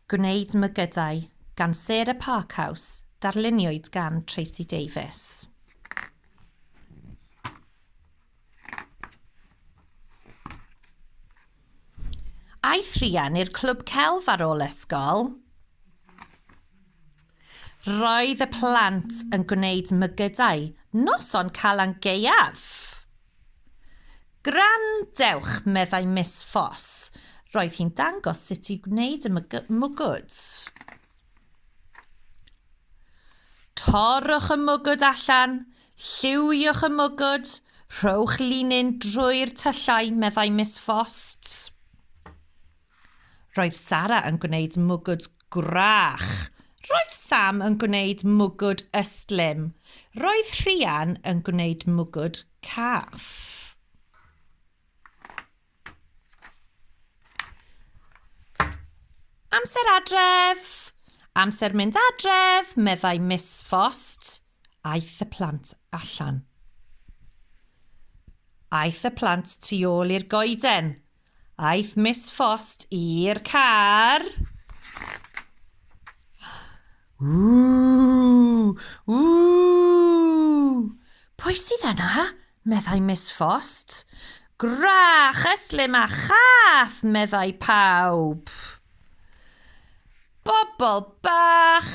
Gwneud Mygydau gan Sarah Parkhouse, darluniwyd gan Tracey Davies. Aeth Rhian i'r clwb celf ar ôl ysgol. Roedd y plant yn gwneud mygydau noson Calan Gaeaf. Gwrandewch, meddai Miss Foss. Roedd hi'n dangos sut i wneud y mwgwd. Torrwch y mwgwd allan, lliwiwch y mwgwd, rhowch linyn drwy'r tyllau, meddai Miss Foss. Roedd Sara yn gwneud mwgwd gwrach. Roedd Sam yn gwneud mwgwd ystlum. Roedd Rhian yn gwneud mwgwd cath. Amser adref! Amser mynd adref, meddai Miss Fost. Aeth y plant allan. Aeth y plant tu ôl i'r goeden. Aeth Miss Frost i'r car. Ww! Ww! Pwy sydd yna? meddai Miss Frost. Gwrach, yslim a chath, meddai pawb. Bobl bach,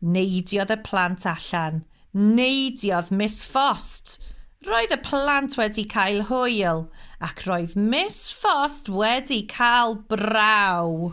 Neidiodd y plant allan. Neidiodd Miss Ffost! Roedd y plant wedi cael hwyl, ac roedd Miss Ffost wedi cael braw!